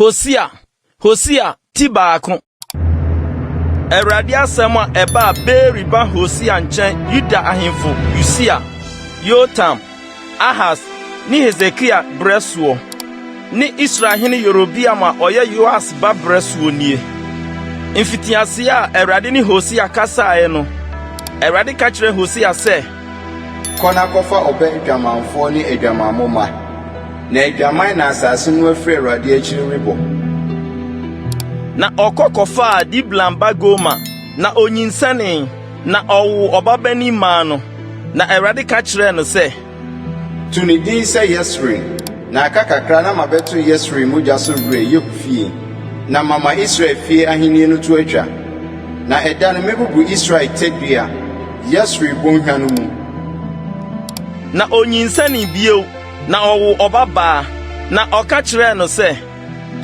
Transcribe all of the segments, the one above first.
Hosea, Hosea ti baako. Awurade asɛm a ɛbaa Beeri ba Hosea nkyɛn Yuda ahemfo Usia, Yotam, Ahas ne Hesekia brɛ soɔ. Ne Israel hene Yerobeam a ɔyɛ Yoas ba berɛ soɔ nie. Mfitiaseɛ a Awurade ne Hosea kasaeɛ no, Awurade ka kyerɛɛ Hosea sɛ. Kɔ na kɔfa ɔbɛ adwamanfoɔ ne adwamammɔ mma, na adwaman na asase no afiri Awurade akyiri rebɔ. Na ɔkɔ kɔfaa Diblam ba Gomer, na ɔnyinsɛnee, na ɔwoo ɔbabanin maa no. Na Awurade ka kyerɛɛ no sɛ. To ne din sɛ Yesreel, na aka kakra na mabɛto Yesreel mogya so werɛ Yehu fie, na mama Israel fie ahenni no to atwa. Na ɛda no mebubu Israel tadua, Yesreel bɔnhwa no mu. Na onyinsɛnee bio, na ɔwoo ɔbabaa, na ɔka kyerɛɛ no sɛ,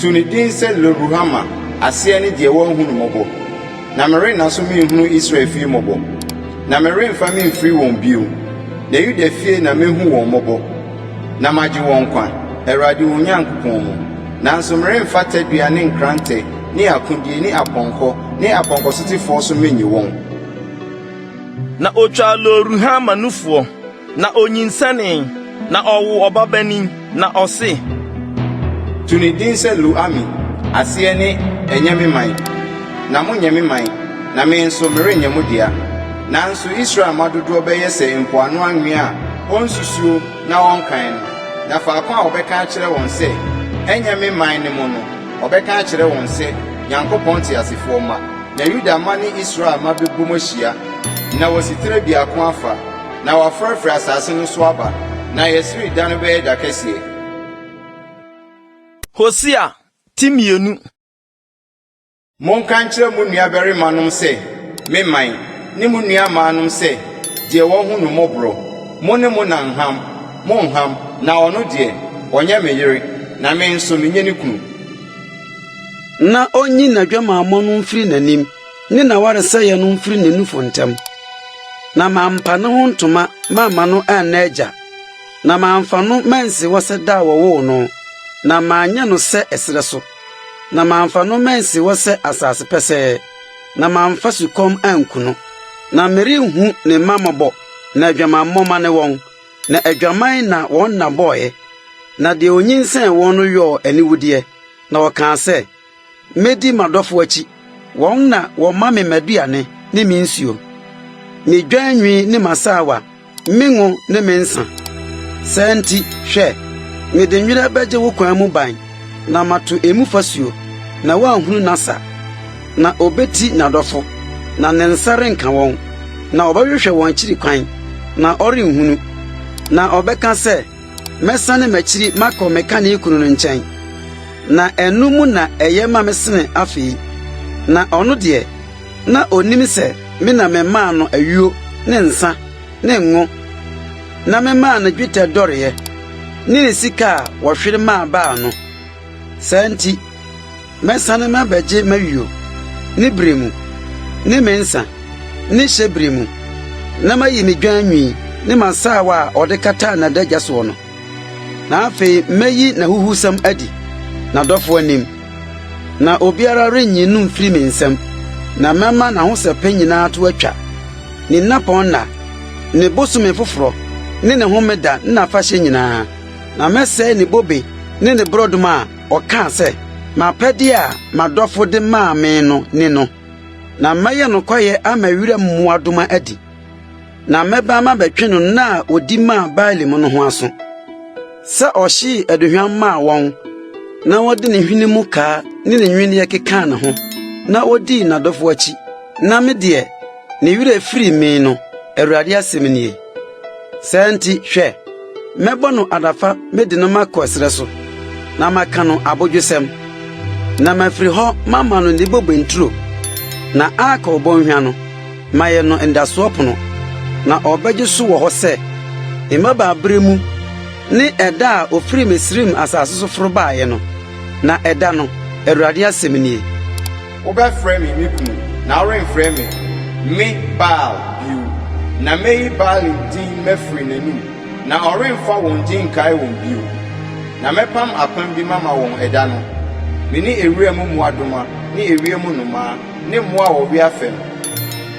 To ne din sɛ Lo-ruhama, aseɛ ne Deɛ Wanhu no Mmɔbɔ. Na merenna so menhunu Israel fie mmɔbɔ, na meremfa memfiri wɔn bio, na Yuda fie na mɛhu wɔn mmɔbɔ, na magye wɔn nkwa, Awurade wɔn Nyankopɔn mu. Nanso meremfa tadua ne nkrantɛ ne akodie ne apɔnkɔ ne apɔnkɔsotefoɔ so mennye wɔn. Na ɔtwaa Lo-ruhama nufoɔ. Na onyinsɛnee, na ɔwoo ɔbabanin, na ɔse. To ne din sɛ Lo-ami, aseɛ ne Ɛnyɛ me man, na monyɛ me man, na me nso merenyɛ mo dea. Nanso Israel mma dodoɔ bɛyɛ sɛ mpoano anwea a wɔnsusuo na wɔnkan no, na faako a wɔbɛka akyerɛ wɔn sɛ, 'Ɛnyɛ me man' ne mo no, wɔbɛka akyerɛ wɔn sɛ, 'Nyankopɔn teasefoɔ mma. Na Yuda mma ne Israel mma bɛbom ahyia, na wɔasi tire biako afa. Na wɔafrafra asaase no so aba. Na Yesreel da no bɛyɛ da kɛseɛ. Hosea ti mmienu. Monka nkyerɛ mo nuabarimanom sɛ, Me man, ne mo nuammaanom sɛ, Deɛ wahu no mmɔborɔ. Mo ne mo na nham, monnham, na ɔno deɛ, ɔnyɛ me yere, na me nso, menyɛ ne kunu. Na ɔnyi n'adwamammɔ no mfiri n'anim. ne n'awaresɛeɛ no mfiri ne nufu ntɛm, na mampa ne ho ntoma mamma no anna agya, na mamfa no mansi hɔ sɛ da a wɔwoo no, na manyɛ no sɛ ɛserɛ so, na mamfa no mansi hɔ sɛ asase pɛsɛɛ, na mamfa sukɔm anku no. Na merenhu ne mma mmɔbɔ, na adwamammɔ ma ne wɔn, na adwaman na wɔn nna bɔɔeɛ, na deɛ ɔnyinsɛn wɔn no yɔɔ aniwudeɛ, na ɔkaa sɛ, Medi m'adɔfo akyi, wɔn na wɔma me m'aduane ne me nsuo, me dwan nwi ne m'asaawa, me ngo ne me nsã. Saa nti, hwɛ, mede nwera bɛgye wo kwan mu ban na mato emu fasuo, na woanhunu n'asa. Na obeti n'adɔfo, na ne nsa renka wɔn, na ɔbɛhwehwɛ wɔn akyiri kwan, na ɔrenhunu. Na ɔbɛka sɛ, Mɛsane m'akyiri makɔ me kane kunu no nkyɛn, na ɛno mu na ɛyɛ ma me sene afei. Na ɔno deɛ, na onnim sɛ me na memaa no ayuo ne nsã ne ngo, na memaa no dwetɛ dɔreɛ ne ne sika a wɔhwere maa Baal no. Saa nti, Mɛsane mabɛgye m'ayuo, ne berɛ mu, ne me nsã, ne hyɛberɛ mu, na mayi me dwan nwi ne m'asaawa a ɔde kataa n'adagya soɔ no, na afei mɛyi n'ahuhusɛm adi n'adɔfoɔ anim, na obiara rennye no mfiri me nsam, na mɛma n'ahosɛpɛ nyinaa to atwa, ne nnapɔn nna, ne bosome foforɔ, ne ne homeda ne n'afahyɛ nyinaa, na mɛsɛe ne bobe ne ne borɔdɔma a Ɔkaa sɛ, M'apɛdeɛ a m'adɔfo de maa me no ni no, na mɛyɛ no kwaeɛ ama wuram mmoadoma adi, na mɛba mabɛtwe no nna a ɔdi maa Baalim no ho aso, sɛ ɔhyee aduhwam maa wɔn na ɔde ne hwene mu kaa ne ne nnwinneɛ kekaa ne ho na ɔdii n'adɔfo akyi, na me deɛ, ne werɛ firii me no, Awurade asɛm nie. Saa nti, hwɛ, mɛbɔ no adafa mede no makɔ ɛserɛ so, na maka no abodwosɛm, na mafiri hɔ mama no ne bobe nturo, na akɔ bɔnhwa no, mayɛ no ndasoɔ pono, na ɔbɛgye so wɔ hɔ sɛ mmabaa berɛ mu ne ɛda a ɔfiri Misraim asase so foro baeɛ no, na ɛda no, Awurade asɛm nie. Wobɛfrɛ me me kunu, na woremfrɛ me me Baal bio, na mɛyi Baalim din mafiri n'anom, na ɔremfa wɔn din nkae wɔn bio. Na mɛpam apam bi mama wɔn ɛda no, me ne ewuram mmoadoma ne ewiem nnomaa ne mmoa a wɔwea fam,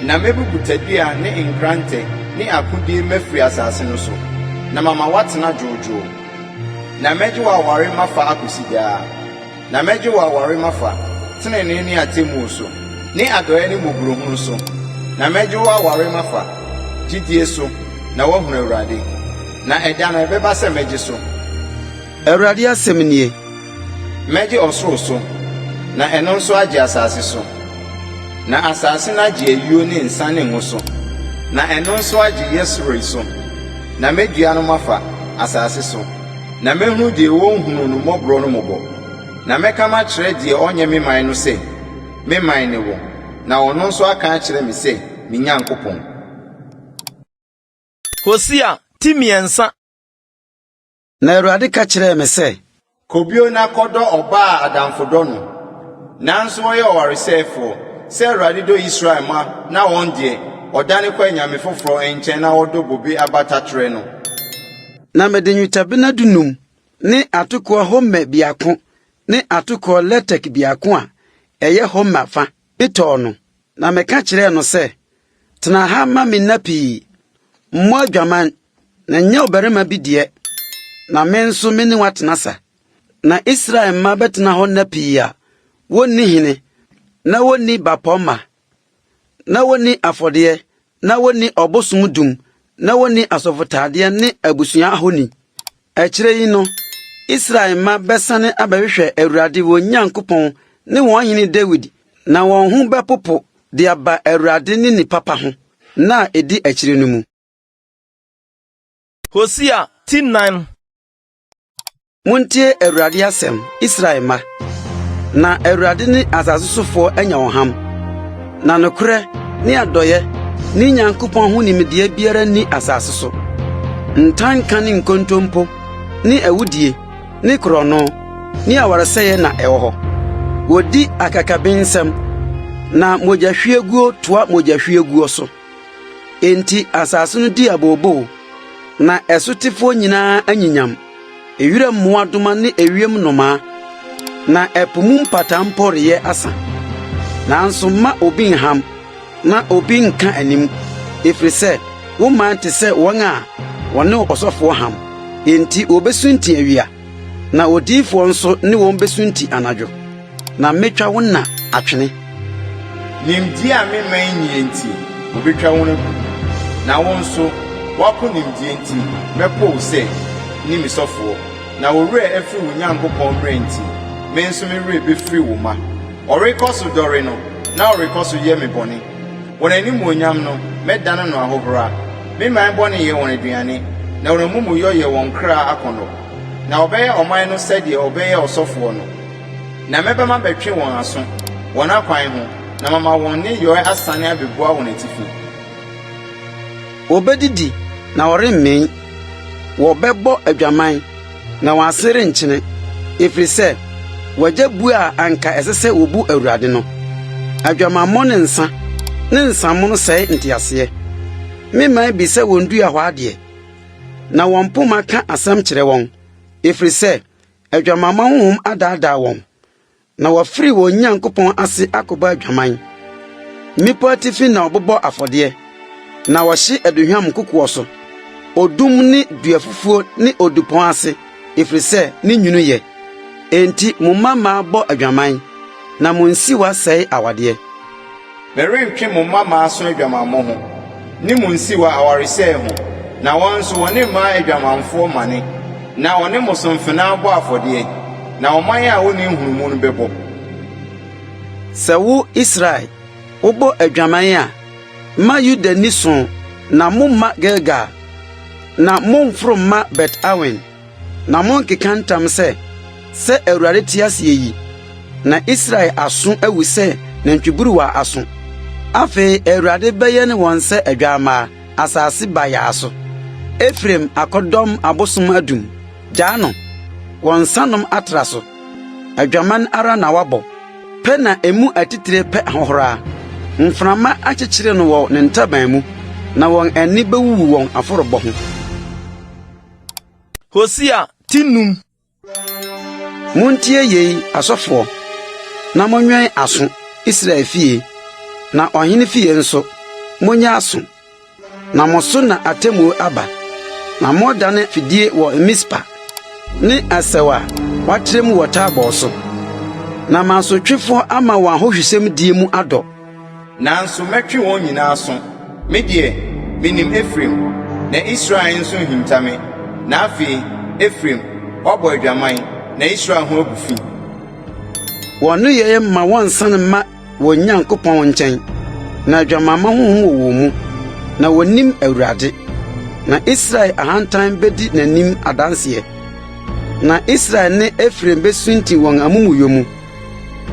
na mɛbubu tadua ne nkrantɛ ne akodie mafiri asase no so, na mama woatena dwoodwoo, na mɛgye wo aware mafa akɔsi daa. Na mɛgye wo aware mafa tenenee ne atemmuo so, ne adɔeɛ ne mmɔborɔhunu so, na mɛgye wo aware mafa gyidie so, na woahunu Awurade. Na ɛda no, ɛbɛba sɛ mɛgye so. Awurade asɛm nie. Mɛgye ɔsoro so, na ɛno nso agye asase so, na asase no agye ayuo ne nsã ne ngo so, na ɛno nso agye yesroi so, na mɛdua no mafa asase so. Na mɛhunu deɛ ɔnhunuu no mmɔborɔ no mmɔbɔ, na mɛka makyerɛ deɛ ɔnyɛ me man no sɛ, 'Me man ne wo, na ɔno nso aka akyerɛ me sɛ, 'Me Nyankopɔn. Hosea ti mmiɛnsa. Na Awurade ka kyerɛɛ me sɛ. Kɔ bio na kɔdɔ ɔbaa a adamfo dɔ no, nanso ɔyɛ ɔwaresɛefoɔ, sɛ Awurade dɔ Israel mma na wɔn deɛ, ɔdane kɔ anyame foforɔ nkyɛn na wɔdɔ bobe abata trɛ no. Na mede nnwetɛbena dunum ne atokoɔ homɛ biako ne atokoɔ lɛtɛk biako a ɛyɛ homɛ fa tɔɔ no, na meka kyerɛɛ no sɛ, Tena ha ma me nna pii, mmɔ adwaman, na nyɛ ɔbarima bi deɛ, na me nso me ne wo atena sa. Na Israel mma bɛtena hɔ nna pii a wɔnni hene na wɔnni bapɔmma. na wɔnni afɔdeɛ, na wɔnni ɔbosom dum, na wɔnni asɔfotaadeɛ ne abusua ahoni. Akyire yi no, Israel mma bɛsane abɛhwehwɛ Awurade wɔn Nyankopɔn ne wɔn hene Dawid, na wɔn ho bɛpopo de aba Awurade ne ne papa ho nna a ɛdi akyire no mu. Hosea ti nnan. Muntie Awurade asɛm, Israel mma, na Awurade ne asase sofoɔ anya ɔham, na nokorɛ ne adɔeɛ ne Nyankopɔn ho nimdeɛ biara nni asase so. Ntanka ne nkontompo ne awudie ne korɔno ne awaresɛeɛ na ɛwɔ hɔ. Wɔdi akakabensɛm, na mogyahwieguo toa mogyahwieguo so. Enti asase no dii abooboo, na ɛsotefoɔ nyinaa anyinyam, wuram mmoadoma ne ewiem nnomaa, na ɛpo mu mpataa mpo reyɛ asa. Nanso mma obi nham, na obi nnka anim, efiri sɛ wo man te sɛ wɔn a wɔne ɔsɔfoɔ ham, enti wobesunti awia. na odiyifoɔ nso ne wɔn bɛsunti anadwo, na mɛtwa wo nna atwene. Nimdeɛ a me mma nnie nti, wɔbɛtwa wɔn agu, na wo nso, woapo nimdeɛ nti, mɛpo wo sɛ, nni me sɔfoɔ. Na wo werɛ afiri wo Nyankopɔn mmara nti, me nso me werɛ bɛfiri wo mma. Wɔrekɔ so dɔre no, na wɔrekɔ so yɛ me bɔne. Wɔn animuonyam no, mɛdane no ahohora. Me man bɔne yɛ wɔn aduane, na wɔn amumuyɔ yɛ wɔn kra akɔnnɔ. Na wɔbɛyɛ ɔman no sɛdeɛ wɔbɛyɛ ɔsɔfoɔ no, na mɛba mabɛtwe wɔn aso, wɔn akwan ho, na mama wɔn nneyɔɛ asane abɛbua wɔn atifi. Wɔbɛdidi na wɔremmee, wɔbɛbɔ adwaman. Na wɔn ase renkyene, efiri sɛ wɔagya bu a anka ɛsɛ sɛ wɔbu Awurade no. Adwamammɔ ne nsã ne nsamono sɛe nteaseɛ. Me mman bi sɛ wɔn dua hɔ adeɛ, na wɔn mpoma ka asɛm kyerɛ wɔn, efiri sɛ adwamammɔ honhom adaadaa wɔn. Na wɔafiri wɔn Nyankopɔn ase akɔbɔ adwaman. Mmepɔ atifi na wɔbobɔ afɔdeɛ, na wɔhye aduhwam nkokoɔ so, odum ne duafufuo ne odupɔn ase, ɛfiri sɛ ne nwunu yɛ. Enti mo mmammaa bɔ adwaman, na mo nsiwa sɛe awadeɛ. Merentwe mo mma mmaso adwamammɔ ho, ne mo nsiwa awaresɛe ho, na wɔn nso wɔne mmaa adwamanfoɔ mmane, na wɔne mo so mfenaa bɔ afɔdeɛ, na ɔman a wɔnni nhunumu no bɛbɔ. Sɛ wo, Israel, wobɔ adwaman a, mma Yuda nni so, na mommma Gilgal, na mommforo mma Bet-Awen. Na monnkeka ntam sɛ, 'Sɛ Awurade te ase yi, na Israel aso awu sɛ nantwiburuwa aso. Afei Awurade bɛyɛn wɔn sɛ adwammaa, asase bayaa so. Efraim akɔdɔm abosom adum, gyaa no, wɔn nsanom atra so. Adwaman ara na wabɔ, pɛ na emu atitire pɛ ahohora. Mframa akyekyere no wɔ ne ntaban mu, na wɔn ani bewuwu wɔn afɔrebɔ ho. Hosea ti num. Montie yei, asɔfoɔ, na monwɛn aso, Israel fie, na ɔhene fie nso, monyɛ aso. Na mo so na atemmuo aba, na moredane fidie wɔ Mispa, ne asau a wɔatrɛ mu wɔ Tabor so. Na mo asotwefoɔ ama wɔn ahohwisɛmdie mu adɔ. Nanso mɛtwe wɔn nyinaa aso. Me deɛ, menim Efraim, na Israel nso nhinta me. Na afei, Efraim, woabɔ adwaman, na Israel ho agu fi. Wɔn nneyɛɛ mma wɔnsan mma wɔn Nyankopɔn nkyɛn, na adwamamma honhom wɔ wɔn mu, na wonnim Awurade. Na Israel ahantan bedi n'anim adanseɛ, na Israel ne Efraim besunti wɔn amumuyɔ mu.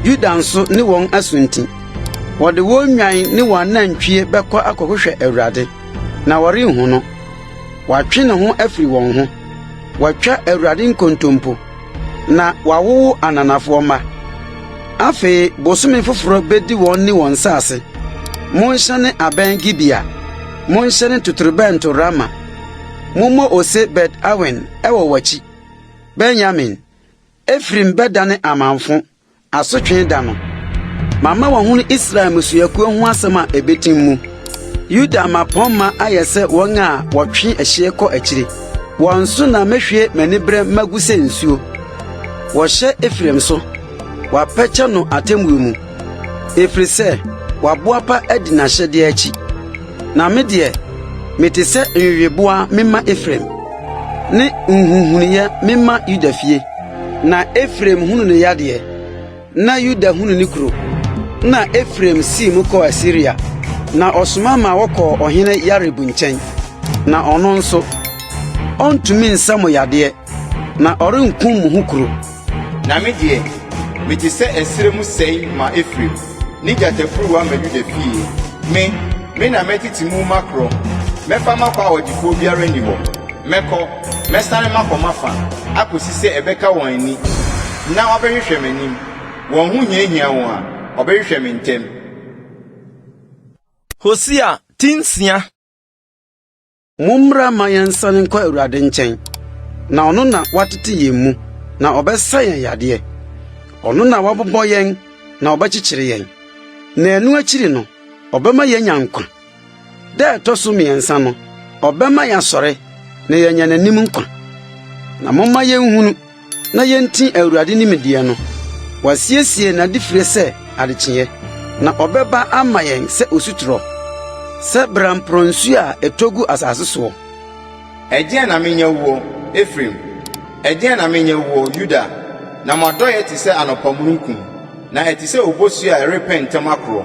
Yuda nso ne wɔn asunti. Wɔde wɔn nnwan ne wɔn anantwie bɛkɔ akɔhwehwɛ Awurade, na wɔrenhu no. Wɔatwe ne ho afiri wɔn ho. Wɔatwa Awurade nkontompo, na wɔawowo ananafoɔ mma. Afei bosome foforɔ bɛdi wɔn ne wɔn nsase. Monhyɛne abɛn Gibea, monhyɛne totorobɛnto Rama. Mommɔ ose Bet-Awen wɔ w'akyi, Benyamin. Efraim bɛdane amamfõ, asotwe da no. Mama wɔahunu Israel mmusuakuo ho asɛm a ɛbɛtim mu. Yuda mmapɔmma ayɛ sɛ wɔn a wɔtwe ɛhyeɛ kɔ akyire. Wɔn so na mɛhwie m'aniberɛ ma gu sɛ nsuo. Wɔhyɛ Efraim so, wɔapɛkyɛ no atemmuo mu, ɛfiri sɛ waboapa adi n'ahyɛdeɛ akyi. Na me deɛ, mete sɛ nweweboa memma Efraim, ne nhuhunuiɛ memma Yuda fie. Na Efraim hunu ne yadeɛ, na Yuda hunu ne kuro. Na Efraim sii mu kɔɔ Asiria, na ɔsoma ma wɔkɔɔ ɔhene Yarib nkyɛn, na ɔno nso, ɔntumi nsa mo yadeɛ. Na ɔrenkum mo ho kuro. Na me deɛ, mete sɛ ɛserɛ mu sɛe ma Efraim, ne gyatafuruwa ma Yuda fie. Me, me na mɛtete mu makorɔ, mɛfa makɔ a ɔgyefoɔ biara nni hɔ. Mɛkɔ, mɛsane makɔ m'afa, akɔsi sɛ ɛbɛka wɔn ani, na wɔabɛhwehwɛ m'anim. Wɔn ho hiahia wɔn a, wɔbɛhwehwɛ me ntɛm. Hosea ti nsia. Mommra mma yɛnsan nkɔ Awurade nkyɛn, na ɔno na watete yɛn mu, na ɔbɛsa yɛn yadeɛ. Ɔno na wabobɔ yɛn na ɔbɛkyekyere yɛn, na ɛno akyiri no, ɔbɛma yɛanya nkwa. Da a ɛtɔ so mmiɛnsa no, ɔbɛma yɛasɔre na yɛanya n'anim nkwa. Na momma yɛnhunu na yenti Awurade nimdeɛ no. Wasiesie n'adefire sɛ adekyeɛ, na ɔbɛba ama yɛn sɛ osutorɔ, sɛ bramporɔ nsuo a ɛtɔ gu asase soɔ. Ɛdeɛn na menyɛ woɔ, Efraim? Ɛdeɛn na menyɛ woɔ, Yuda? Na m'adɔeɛ te sɛ anɔpa mununkum, na ɛte sɛ obosuo a ɛrepɛ ntɛm akorɔ.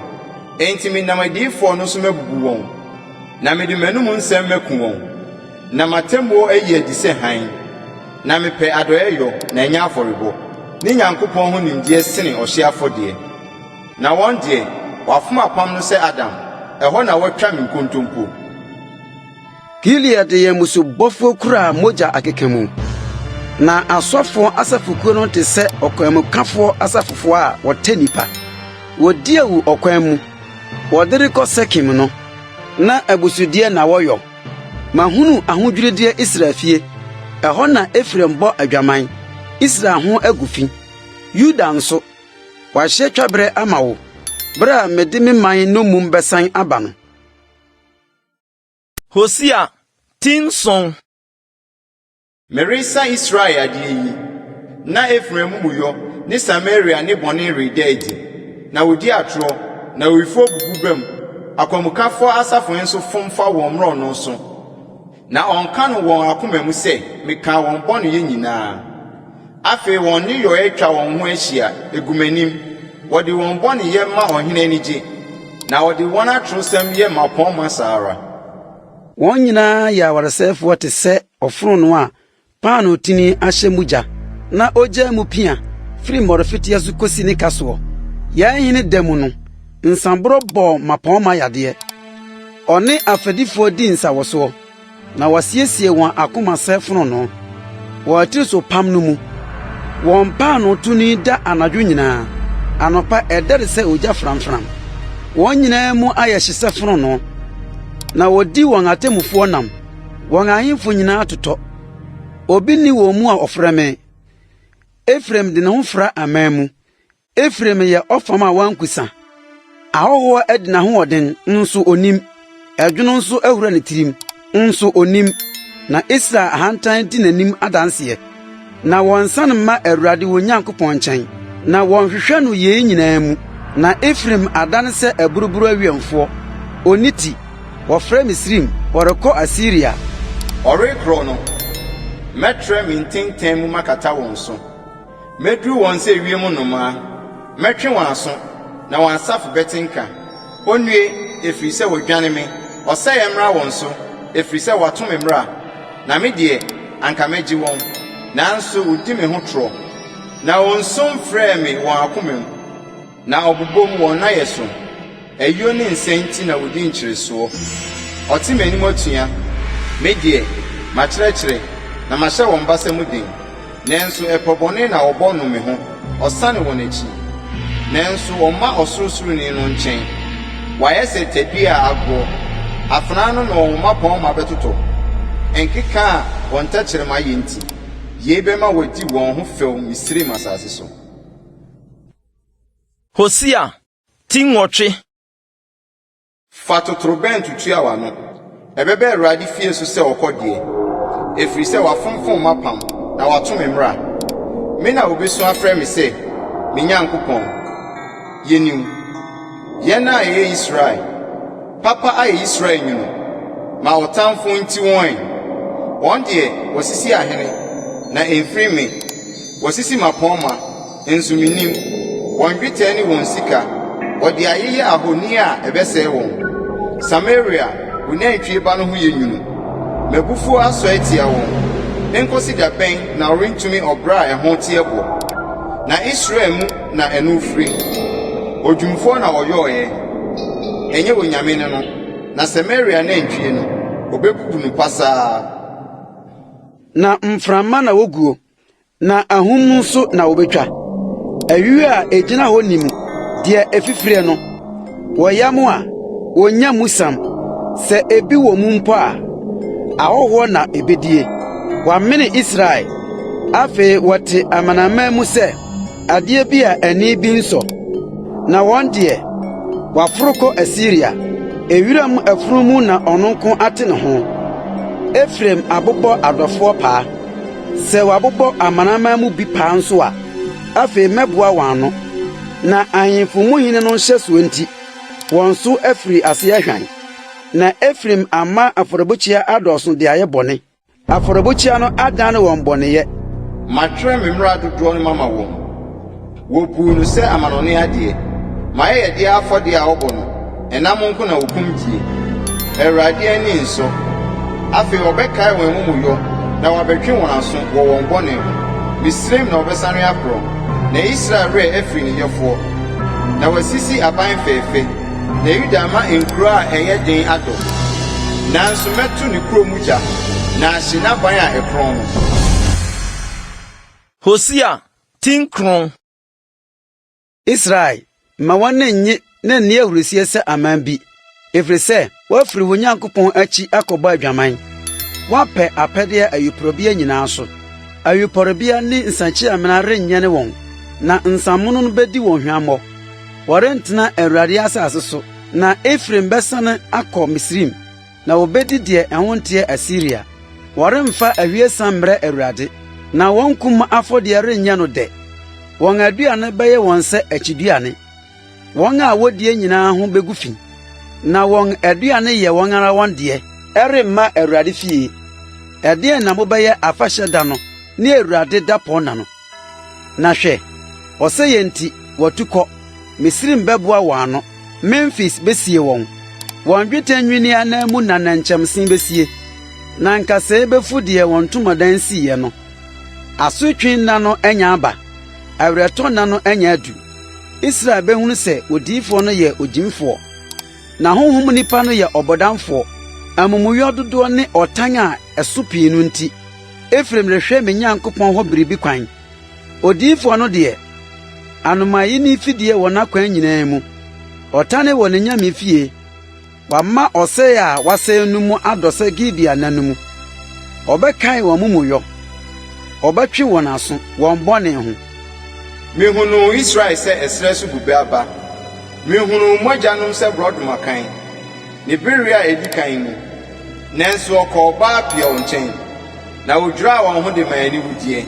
Enti menam adiyifoɔ no so mɛbubu wɔn, na mede m'anom nsɛm mɛku wɔn, na m'atemmuo ayi adi sɛ hann. Na mepɛ adɔeɛyɔ, na ɛnyɛ afɔrebɔ, ne Nyankopɔn ho nimdeɛ sene ɔhyeɛ afɔdeɛ. Na wɔn deɛ, wɔafom apam no sɛ Adam, ɛhɔ na wɔatwa me nkontompo. Gilead yɛn mmusubɔfoɔ kura mogya akeka mu, na asɔfoɔ asafokuo no te sɛ ɔkwanmukafoɔ asafofoɔ a wɔtɛ nnipa. Wɔdi awu ɔkwan mu, wɔde rekɔ Sekem no, na abusudeɛ na wɔyɔ. Mahunu ahodwirideɛ Israel fie, ɛhɔ na Efraim bɔ adwaman, Israel ho agu fi. Yuda nso, wɔahyɛ twaberɛ ama wo, berɛ a mede me man nnommum bɛsan aba no. Hosea ti nson. Meresa Israel adeɛ yi, na Efraim amumuyɔ ne Samaria ne bɔne reda adi, na wɔdi atorɔ, na awifoɔ bubu bam, akwanmukafoɔ asafo nso fom fa wɔn mmorɔno so, na wɔka no wɔn akoma mu sɛ, Mekaa wɔn bɔneyɛ nyinaa. Afei wɔn nneyɔeɛ twa wɔn ho ahyia, ɛgu m'anim, wɔde wɔn bɔneyɛ ma ɔhene ani gye, na wɔde wɔn atorosɛm yɛ mmapɔmma saa ara. Wɔn nyinaa yɛ awaresɛefoɔ te sɛ Ɔfononoo a paanoo tini ahyɛ mu gya na ogyaa mu pia firi mmɔrefeteɛ so kɔsi ne kasoɔ. Yɛn hene da mu no, nsãborɔ bɔɔ mmapɔmma yadeɛ. Ɔne afɛdifoɔ dii nsawɔsoɔ, na wɔasiesie wɔn akoma sɛ fononoo wɔ atirisopam no mu. Wɔn paanoo tini da anadwo nyinaa, anɔpa ɛdɛre sɛ ogya framfram. Wɔn nyinaa mu ayɛ hye sɛ fononoo, na wɔdi wɔn atemmufoɔ nam. Wɔn ahemfo nyinaa totɔ, obi nni wɔn mu a ɔfrɛ me. Efraim de ne ho fra aman mu, Efraim yɛ ɔfam a wankusa. Ahɔho adi n'ahoɔden, nso onim, ɛdwono nso ahura ne tirim, nso onim, na Israel ahantan di n'anim adanse. Na wɔnsan mma Awurade wɔn Nyankopɔn nkyɛn, na wɔnhwehwɛ no yei nyinaa mu. Na Efraim adane sɛ aburuburo awɛmfoɔ, ɔnni ti, wɔfrɛ Misraim, wɔrekɔ Asiria. Ɔrekorɔ no, mɛtrɛ me ntenten mu makata wɔn so, mɛduru wɔn sɛ ewiem nnomaa, mɛtwe wɔn aso, na wɔn asafo bɛte nka. Wɔnnue, ɛfiri sɛ wɔadwane me! Ɔsɛeɛ mmra wɔn so, ɛfiri sɛ wɔato me mmara. Na me deɛ, anka mɛgye wɔn, nanso wɔdi me ho torɔ. Na wɔnsu mfrɛɛ me wɔn akoma mu, na wɔbobom wɔn nnayɛ so. Ayuo ne nsɛe nti na wɔdi nkyeresoɔ. Wɔte m'anim atua, me deɛ, makyerɛkyerɛ, na mahyɛ wɔn basa mu den. Nanso ɛpɔ bɔne na wɔbɔ no me ho, ɔsane wɔn akyi. Nanso wɔmma Ɔsorosoroni no nkyɛn. Wɔayɛ sɛ tadua a agoɔ, afenaa no na wɔn mmapɔmma bɛtotɔ, nkeka a wɔn tɛkyerɛma yɛ nti, yei bɛma wɔadi wɔn ho fɛw Misraim asase so. Hosea ti nwɔtwe. Fa totorobɛnto tua w'ano. Ɛbɛba Awurade fie so sɛ ɔkɔdeɛ, ɛfiri sɛ wafonfom m'apam na wato me mmara. Me na wɔbɛsu afrɛ me sɛ, Me Nyankopɔn, yɛnim. Yɛn a yɛyɛ Israel, papa ayɛ Israel nwunu ma ɔtamfo nti wɔn. Wɔn deɛ, wɔasisi ahene, na ɛmfiri me, wɔasisi mmapɔmma. nso minnim. Wɔn dwetɛ ne wɔn sika, wɔde ayeyɛ ahoni a ɛbɛsɛe wɔn. Samaria, wo nantwie ba no ho yɛ nwunu. M'abufuo asɔe atia wɔn. Ɛnkosi da bɛn na worentumi ɔbra a ɛho teɛ boɔ? Na Israel mu na ɛno firi. Odwumfoɔ na ɔyɔeɛ, ɛnyɛ onyame ne no, na Samaria nantwie no, ɔbɛbubu no pasaa. Na mframa na woguo, Na ahum mu nso na wobetwa. Awi a egyina hɔ nim deɛ efifire no. Wɔyam a, wonnya mu sam. Sɛ ebi wɔ mu mpo a, ahɔhoɔ na ebedie. Wɔamene Israel. Afei wɔte amanaman mu sɛ adeɛ bi a ani bi nsɔ. Na wɔn deɛ, wɔaforo kɔ Asiria. Ewiram afunumu na ɔno nko ate ne ho. Efraim abobɔ adɔfoɔ paa. Sɛ wɔabobɔ amanaman mu bi paa nso a, afei mɛboa wɔn ano. Na ahemfo mu hene no nhyɛso nti, wɔn so afiri ase ahwan. Na Efraim ama afɔrebukyia adɔɔso de ayɛ bɔne, afɔrebukyia no adan wɔn bɔneyɛ. Matwerɛ me mmara dodoɔ no mama wɔn. Wɔbuu no sɛ amanɔne adeɛ. M'ayɛyɛdeɛ afɔdeɛ a wɔbɔ no, ɛnam nko na wɔkum die. Awurade ani nsɔ. Afei wɔbɛkae wɔn amumuyɔ na wɔabɛtwe wɔn aso wɔ wɔn bɔne ho. Misraim na wɔbɛsane akorɔn, na Israel werɛ afiri ne Yɛfoɔ. Na wɔasisi aban fɛɛfɛ, na Yuda ama nkuro a ɛyɛ den adɔ. Nanso mɛto ne kuro mu gya, na ahye n'aban a ɛkorɔn no. Hosea Tin kronn. Israel, mma w'ani nnye na nni ahurusie sɛ aman bi, ɛfiri sɛ woafiri wo Nyankopɔn akyi akɔbɔ adwaman. Woapɛ apɛdeɛ ayuporobea nyinaa so, ayuporebea ne nsã-kyi-amena renyɛne wɔn, na nsamono no bɛdi wɔn hwammɔ. Wɔrentena Awurade asase so, na Efraim bɛsane akɔ Misraim. Na wobedi deɛ ɛho nteɛ Asiria. Wɔremfa ahwiesa mmrɛ Awurade, Na wɔn kum afɔdeɛ renyɛ no dɛ. Wɔn aduane bɛyɛ wɔn sɛ akyiduane, Wɔn a wodie nyinaa ho begu fi, Na wɔn aduane yɛ wɔn ara wɔn deɛ. Ɛremma Awurade fie. Ɛdeɛn na mobɛyɛ afahyɛ da no, Ne Awurade dapɔnna no? Na hwɛ, ɔsɛeɛ nti, wɔatu kɔ, Misraim bɛboa wɔn ano, Memfis bɛsie wɔn, wɔn dwetɛ nnwinneɛ ananmu na nnɛnkyɛmse bɛsie, na nkasɛɛ bɛfu deɛ wɔn ntomadan siiɛ no. Asotwe nna no anya aba, awerɛtɔ nna no anya adu. Israel bɛhunu sɛ odiyifoɔ no yɛ ogyimifoɔ, na honhom nipa no yɛ ɔbɔdamfoɔ, amumuyɔ dodoɔ ne ɔtan a ɛso pii no nti. Efraim rehwɛ me Nyankopɔn hɔ biribi kwan. Odiyifoɔ no deɛ, anomayi ne fidie wɔ n'akwan nyinaa mu. Ɔtane wɔ n'anyame fie. Wama ɔsɛe a wasɛe no mu adɔ sɛ Gibea nna no mu. Ɔbɛkae wɔn amumuyɔ, ɔbɛtwe wɔn aso wɔn bɔne ho. Mehunuu Israel sɛ ɛserɛ so bobe aba, Mehunuu mo agyanom sɛ borɔdɔma kann, ne bereɛ a ɛdi kan mu. Nanso ɔkɔɔ baa Peor nkyɛn, na wodwiraa wɔn ho de maa aniwudeɛ,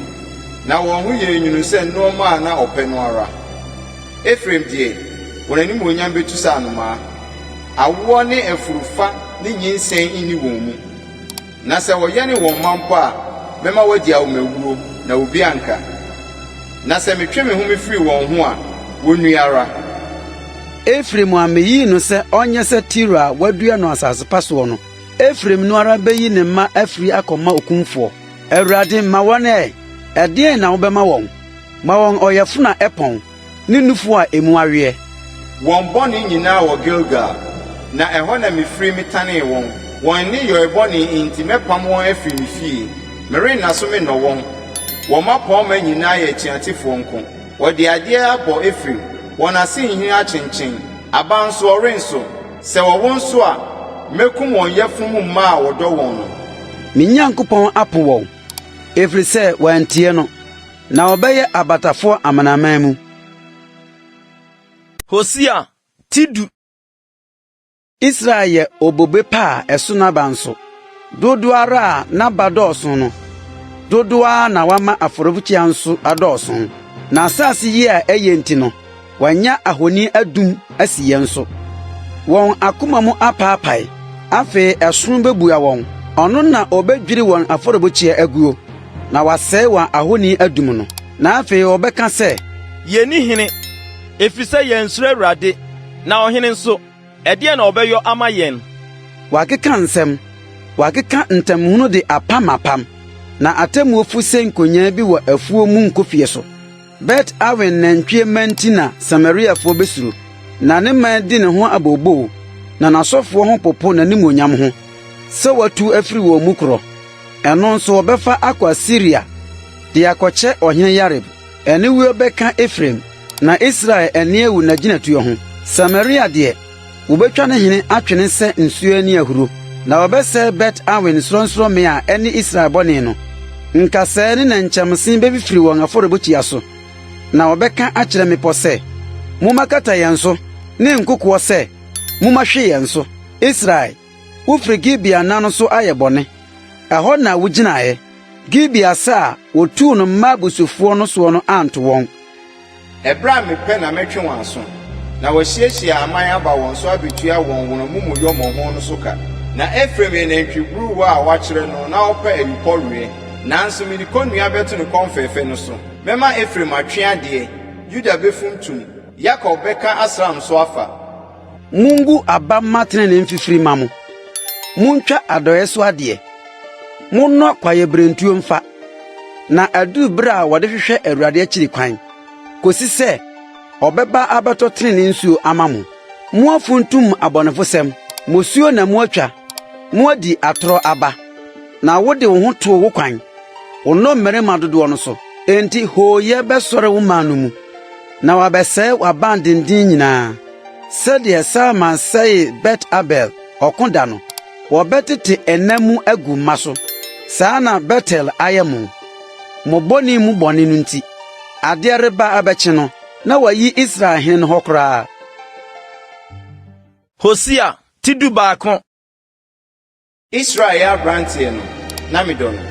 na wɔn ho yɛɛ nwunu sɛ nnoɔma a na ɔpɛ no ara. Efraim deɛ, wɔn animuonyam bɛtu sɛ anomaa, awoɔ ne afuru fa ne nyinsɛn nni wɔn mu, na sɛ wɔyɛne wɔn mma mpo a, mɛma wɔadi awomawuo, na obi anka. Na sɛ metwe me home firi wɔn ho a, wɔnnue ara. Efraim a miyii no sɛ ɔnyɛ sɛ Tiro a wɔadua no asase pa soɔ no. Efraim no ara bɛyi ne mma afiri akɔma okumfoɔ. Awurade, ma wɔn ɛ! Ɛdeɛn na wobɛma wɔn? Ma wɔn ɔyafunu a ɛpɔn, ne nufoɔ a emu aweɛ. Wɔn bɔne nyinaa wɔ Gilgal, na ɛhɔ na mefiri metanee wɔn. Wɔn nneyɔɛ bɔne nti mɛpam wɔn afiri me fie, merenna so mennɔ wɔn. Wɔn mmapɔmma nyinaa yɛ atuatefoɔ nko. Wɔde adeɛ abɔ Efraim, wɔn ase nhini akyenkyen, aba nso, ɔrenso. Sɛ wɔwo nso a, mɛkum wɔn yafunu mu mma a wɔdɔ wɔn no. Me Nyankopɔn apo wɔn, ɛfiri sɛ wɔantie no, na wɔbɛyɛ abatafoɔ amanaman mu. Hosea ti du. Israel yɛ obobe pa a ɛso n'aba nso. Dodow ara a n'aba dɔɔso no, dodow ara na wama afɔremuka nso adɔɔso. N'asase ye a eye nti no, wanya ahoni adum asi yɛn so. Wɔn akoma mu apaapae, afei ɛsono bebua wɔn. Ɔno na obedwiri wɔn afɔremuka aguo, na wasɛe wɔn ahoni adum no. Na afei wɔbɛka sɛ. Yenni hene, efisɛ yɛansuro Awurade, na ɔhene nso, Ɛdeɛn na ɔbɛyɔ ama yɛn? Wakeka nsɛm, wakeka ntam hunu de apam apam, na atemmuo fo se nkonyaa bi wɔ afuo mu nkofie so. Bet Awen nantwie mma nti na Samariafoɔ bɛsuro, na ne man di ne ho abooboo, na n'asɔfoɔ ho popo n'animuonyam ho, sɛ watu afiri wɔn mu korɔ. Ɛno nso wɔbɛfa akɔ Asiria de akɔkyɛ ɔhene Yareb. Aniwuo bɛka Efraim, na Israel ani awu n'agyinatuo ho. Samaria deɛ, wɔbɛtwa ne hene atwe no sɛ nsuo ani ahuro, na wɔbɛsɛe Bet-Awen sorɔnsorɔmmea a ɛne Israel bɔne no. Nkasɛɛ ne nnɛnkyɛmse bɛfifiri wɔn afɔrebukyia so, na wɔbɛka akyerɛ mmepɔ sɛ, Mommɛkata yɛn so, ne nkokoɔ sɛ, Mommɛhwe yɛn so. Israel. Wofiri Gibea nna no so ayɛ bɔne. Ɛhɔ na wogyinaeɛ. Gibea sa a wɔtuu no mma abusufoɔ no soɔ no anto wɔn. Ɛberɛ a mepɛ na mɛtwe wɔn aso. Na wɔasiesie aman aba wɔn so abɛtua wɔn wɔn amumuyɔ mmɔho no so ka. Na Efraim yɛ nantwi buruwa a wɔakyere no na ɔpɛ ayupɔweɛ. Nanso mede kɔnnua bɛto ne kɔn fɛɛfɛ no so. Mɛma Efraim atwe adeɛ, Yuda bɛfuntum, Yakob bɛka asram so afa. Mungu aba mma trenee mfifiri mma mo, muntwa adɔe so adeɛ, monnɔ kwaebirentuo mfa, na aduru bere a wɔde hwehwɛ Awurade akyiri kwan, kosi sɛ ɔbɛba abɛtɔ trenee nsuo ama mo. Moafuntum abɔnefosɛm, mosuo na moatwa, moadi atorɔ aba, na wode wo ho too wo kwan, wo nnɔmmarima dodoɔ no so. Enti hooyɛ bɛsɔre wo man no mu. na wɔabɛsɛe w'abandenden nyinaa, sɛdeɛ Salman sɛee Bet-Abel ɔko da no, wɔbɛtete ɛna mu agu mma so. Saa na Betel ayɛ mo, mo bɔne mu bɔne no nti. Adeɛ reba abɛkye no, na wɔayi Israel hene no hɔ koraa. Hosea ti dubaako. Israel yɛ aberanteɛ no, na medɔ no,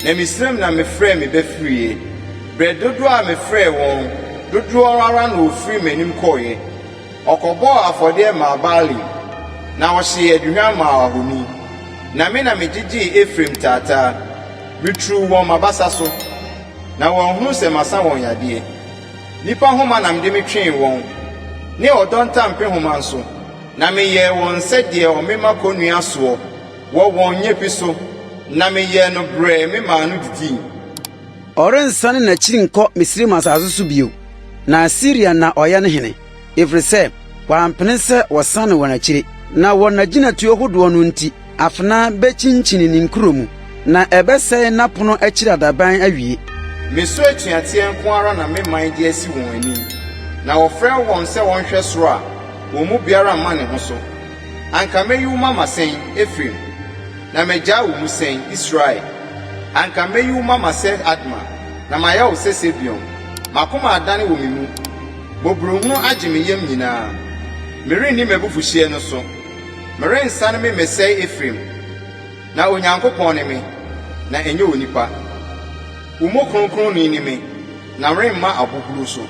Na Misraim na mefrɛɛ me ba firiiɛ. Berɛ dodoɔ a mefrɛɛ wɔn dodoɔ ara na wɔfirii m'anim kɔeɛ. Ɔkɔbɔɔ afɔdeɛ maa Baalim, Na ɔhyee aduhwam maa ahoni. Na me na megyegyee Efraim taataa, Meturuu wɔn m'abasa so, na wɔanhunu sɛ masa wɔn yadeɛ. Nnipa nhoma na mede me twee wɔn, Ne ɔdɔ ntampehoma nso. Na meyɛɛ wɔn sɛ deɛ wɔmema kɔnnua soɔ wɔ wɔn nyapi so, na meyɛɛ no brɛɛ me maa no didii. Ɔrensane n'akyiri nkɔ Misraim asase so bio, na Asiria na ɔyɛ ne hene, ɛfiri sɛ wampene sɛ wɔsane wɔn akyire, na wɔn agyinatuo hodoɔ no nti. Afena bekyinkyin ne nkuro mu. Na ɛbɛsɛe n'apono akyiri adaban awie. Meso atuateɛ nko ara na me man de asi wɔn anim, na wɔfrɛ wɔn sɛ wɔnhwɛ soro a, wɔn mu biara mma ne ho so. Anka mɛyi wo mama sɛn, Efraim? Na magyaa wo mu sɛn, Israel? Anka mɛyi wo mama sɛ Adma, na mayɛ wo sɛ Sebeon. M'akoma adane wɔ me mu, mmɔborɔhunu agye me yam nyinaa. Merenni m'abufuhyeɛ no so. Merensan memmɛsɛe Efraim. Na Onyankopɔn ne me, na ɛnyɛ onipa. Wo mu Kronkronni ne me, na woremma aboburuw so.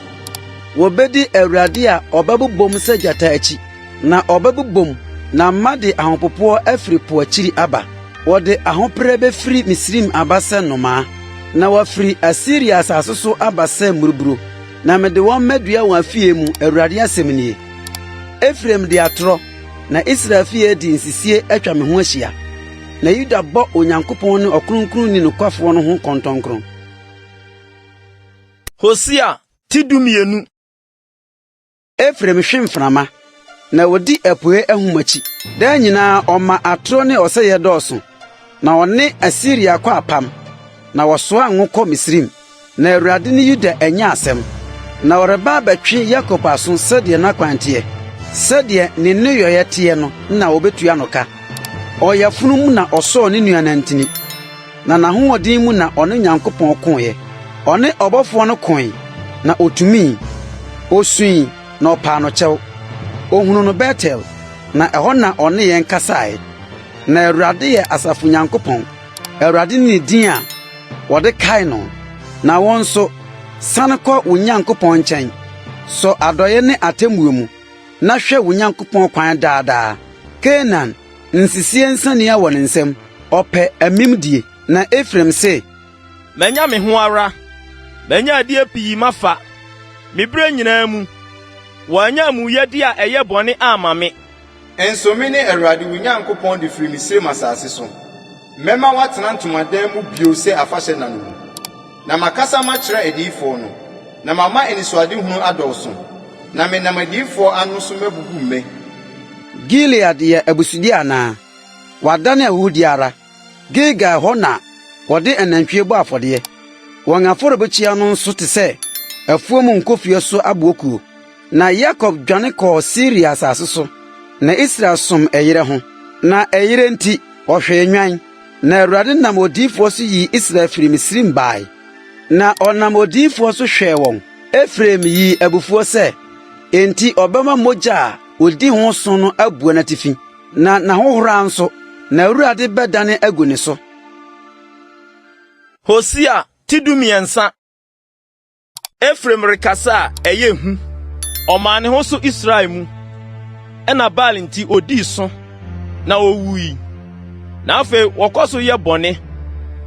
Wobedi Awurade a ɔbɛbobom sɛ gyata akyi, na ɔbɛbobom na mma de ahopopoɔ afiri po akyiri aba. Wɔde ahopere bɛfiri Misraim aba sɛ nnomaa, na wɔafiri Asiria asase so aba sɛ mmuruburuw, na mede wɔn mɛdua wɔn afie mu, Awurade asɛm nie. Efraim di atoro, na Israel fi a edi nsisie atwa me ho ahyia, na Yuda bɔ Onyankopɔn ne Ɔkronkronni nokwafoɔ no ho nkɔntɔnkron. Hosea ti dumienu. Efraim hwe mframa, na odi apueɛ ahum akyi. Daa nyinaa ɔma atoro ne ɔsɛeɛ dɔɔso, na ɔne Asiria kɔ apam, na wɔsoa ngo kɔ Misraim. Na Awurade ne Yuda anya asɛm, na ɔreba abɛtwe Yakob aso sɛdeɛ n'akwan teɛ, sɛdeɛ ne nneyɔeɛ teɛ no na wɔbɛtua no ka. Ɔyafunu mu na ɔsɔɔ ne nua nantin, na n'ahoɔden mu na ɔne Onyankopɔn koeɛ. Ɔne ɔbɔfoɔ no koe, na ɔtumii. Ɔsuui, na ɔpaa no kyɛw. Ɔhunuu no Betel, na ɛhɔ na ɔne yɛn kasaeɛ. Na Awurade yɛ asafo Nyankopɔn. Awurade ne ne din a wɔde kae no. Na wo nso, san kɔ wo Nyankopɔn nkyɛn, sɔ adɔe ne atemmuo mu, na hwɛ wo Nyankopɔn kwan daa daa. Kanaan nsisie nsania wɔ ne nsam, ɔpɛ amimdie. Na Efraim se. Manya me ho ara, manya adeɛ pii mafa, me berɛ nyinaa mu, wɔannya amumuyɛdeɛ a ɛyɛ bɔne amma me. Nso mene Awurade wo Nyankopɔn de firi Misraim asase so. Mɛma woatena ntomadan mu bio sɛ afahyɛ nna no mu. Na makasa makyerɛ adiyifoɔ no, na mama anisoadehunu adɔɔso, na menam adiyifoɔ ano so mabubu mmɛ. Gilead yɛ abusudeɛ anaa? Wadane ahuhudeɛ ara. Gilgal hɔ na wɔde anantwie bɔ afɔdeɛ. Wɔn afɔrebukyia no nso te sɛ afuom nkofie so aboɔkuo. Na Yakob dwane kɔɔ Siria asase so, na Israel som ɛyerɛ ho. Na ɛyerɛ nti, ɔhwee nnwan. Na Awurade nam odiyifoɔ so yii Israel firii Misraim baeɛ. Na ɔnam odiyifoɔ so hwɛɛ wɔn. Efraim yii abufuo sɛ enti ɔbɛma mogya a ɔdi ho so no abua n'atifi. Na n'ahohora nso, n'Awurade bɛdane agu ne so. Hosea ti dumiɛnsa. Efraim rekasa a ɛyɛ hu. Ɔmaa ne ho so Israel mu. Ɛna Baal nti odii so, na owui. Na afei wɔkɔ so yɛ bɔne,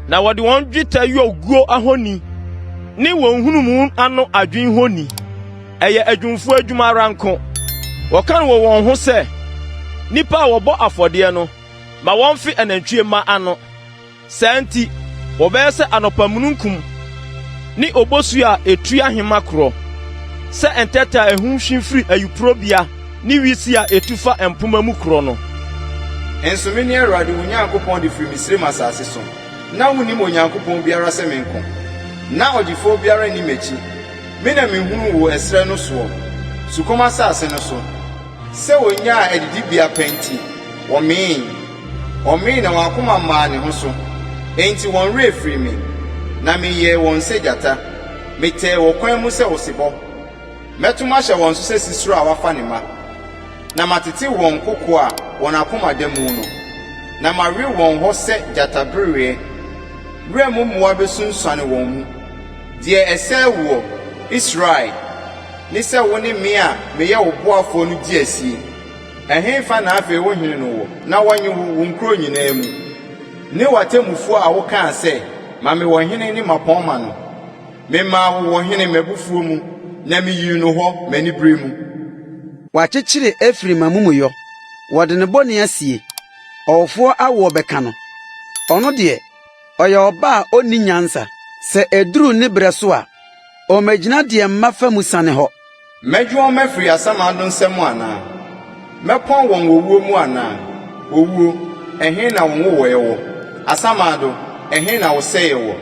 na wɔde wɔn dwetɛ yɔ guo ahoni ne wɔn nhunumu ano adwinni honi. Ɛyɛ adwumfo adwuma ara nko. Wɔka no wɔ wɔn ho sɛ, nnipa a wɔbɔ afɔdeɛ no ma wɔmfe anantwie mma ano. Saa nti, wɔbɛyɛ sɛ anɔpa mununkum ne obosu a etu ahema korɔ, sɛ ntɛtɛ a ɛho nhwi firi ayuporobea ne wisi a etu fa mpomma mu korɔ no. Nso mene Awurade wo Nyankopɔn de firi Misraim asase so. Ná wonnim Onyankopɔn biara sɛ me nko. Ná ɔgyefoɔ biara nni m'akyi. Me na mihunuu wo ɛserɛ no soɔ, sukɔm asase no so, sɛ wɔnyaa adidibea pa nti, wɔmee. Wɔmee na wɔn akoma maa ne ho so, enti wɔn werɛ firii me, na meyɛɛ wɔn sɛ gyata. Metɛɛ wɔ kwan mu sɛ osebɔ. Mɛto mahyɛ wɔn so sɛ sisire a wafa ne mma, na matetew wɔn kokoa a wɔn akoma da mu no, na mawe wɔn hɔ sɛ gyatabereɛ. Wuram mmoa bɛsunsuane wɔn mu. Deɛ ɛsɛ woɔ, Israel, ne sɛ wo ne me a meyɛ wo boafoɔ no di asie. Ɛhefa na afei wo hene no wɔ, na wɔnye wo, wo nkuro nyinaa mu, ne w'atemmufoɔ a wokaa sɛ, 'Ma me ɔhene ne mmapɔmma' no? Memaa wo ɔhene m'abufuo mu, na meyii no hɔ m'aniberɛ mu. Wɔakyekyere Efraim amumuyɔ, wɔde ne bɔne asie, ɔwofoɔ awoɔ bɛka no, ɔno deɛ. Ɔyɛ ɔba a onni nyansa. Sɛ eduru ne berɛ so a, ɔmmɛgyina deɛ mma fa mu sane hɔ. Mɛgye wɔn afiri asamando nsa mu anaa? Mɛpɔn wɔn wɔ wuo mu anaa? Owuo, ɛhe na wo nwowɔeɛ wɔ? Asamando, ɛhe na wo sɛeɛ wɔ?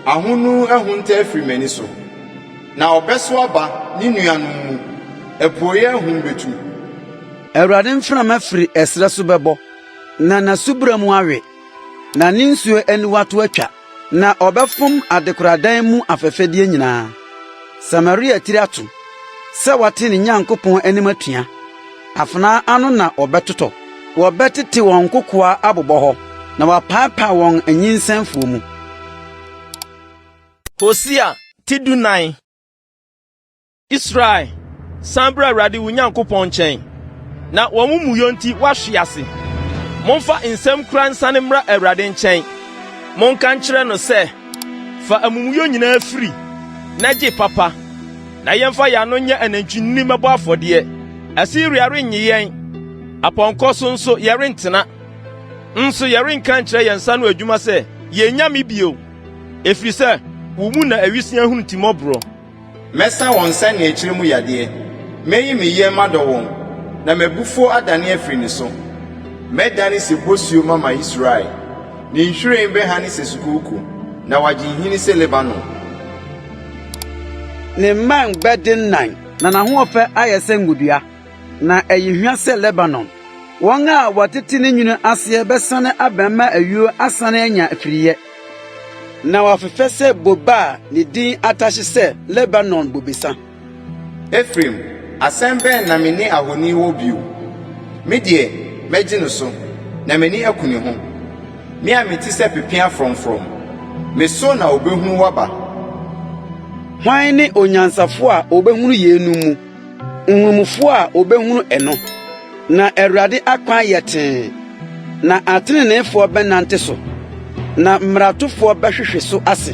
Ahonu ahunta afiri m'ani so. Na ɔbɛso aba ne nuanom mu, apueeɛ ahum bɛtu. Awurade mframa firi ɛserɛ so bɛbɔ, na n'asubura mu awe. na ne nsuo aniwa to atwa, na ɔbɛfom adekoradan mu afɛfɛdeɛ nyinaa. Samaria tiri ato sɛ wate ne Nyankopɔn anim atua, afenaa ano na wɔbɛtotɔ. Wɔbɛtete wɔn nkokoa abobɔ hɔ, na wɔapaapae wɔn nyinsɛnfoɔ mu. Hosea ti dunan. Israel, san bra Awurade wo Nyankopɔn nkyɛn, na w'amumuyɔ nti woahwe ase. Momfa nsɛm kura nsane mmra Awurade nkyɛn. Monka nkyerɛ no sɛ, Fa amumuyɔ nyinaa firi, na gye papa, na yɛmfa yɛn ano nyɛ anantwinini mmɛbɔ afɔdeɛ. Asiria rennye yɛn, apɔnkɔ so nso yɛrentena, nso yɛrenka nkyerɛ yɛn nsa ano adwuma sɛ, 'Yɛn nyame' bio, ɛfiri sɛ wo mu na awiseɛ ahunu timmɔborɔ. Mɛsa wɔn sɛnea akyire mu yadeɛ. Mɛyi me yam adɔ wɔn, na m'abufuo adane afiri ne so. Mɛdane sɛ bosuo mama Israel, ne nhwiren bɛhane sɛ sukooko, na wagye nhini sɛ Lebanon. Ne mman bɛdennan, na n'ahoɔfɛ ayɛ sɛ ngodua, na ɛyɛ hwa sɛ Lebanon. Wɔn a wɔtete ne nwunu aseɛ bɛsane abɛn ma ayuo asane anya afiriiɛ. Na wɔafefɛ sɛ bobe a ne din atahye sɛ Lebanon bobesa. Efraim, asɛm bɛn na me ne ahoni wɔ bio? Me deɛ, mɛgye no so, na m'ani aku ne ho, Me a mete sɛ pepeaa frɔmfrɔm. Me so na ɔbɛhunu w'aba. Hwan ne onyansafo a ɔbɛhunu yeinom mu? Nhumufo a wobehunu ɛno, na Awurade akwan yɛ tee, na atreneefo bɛnante so, na mmaratofo bɛhwehwe so ase.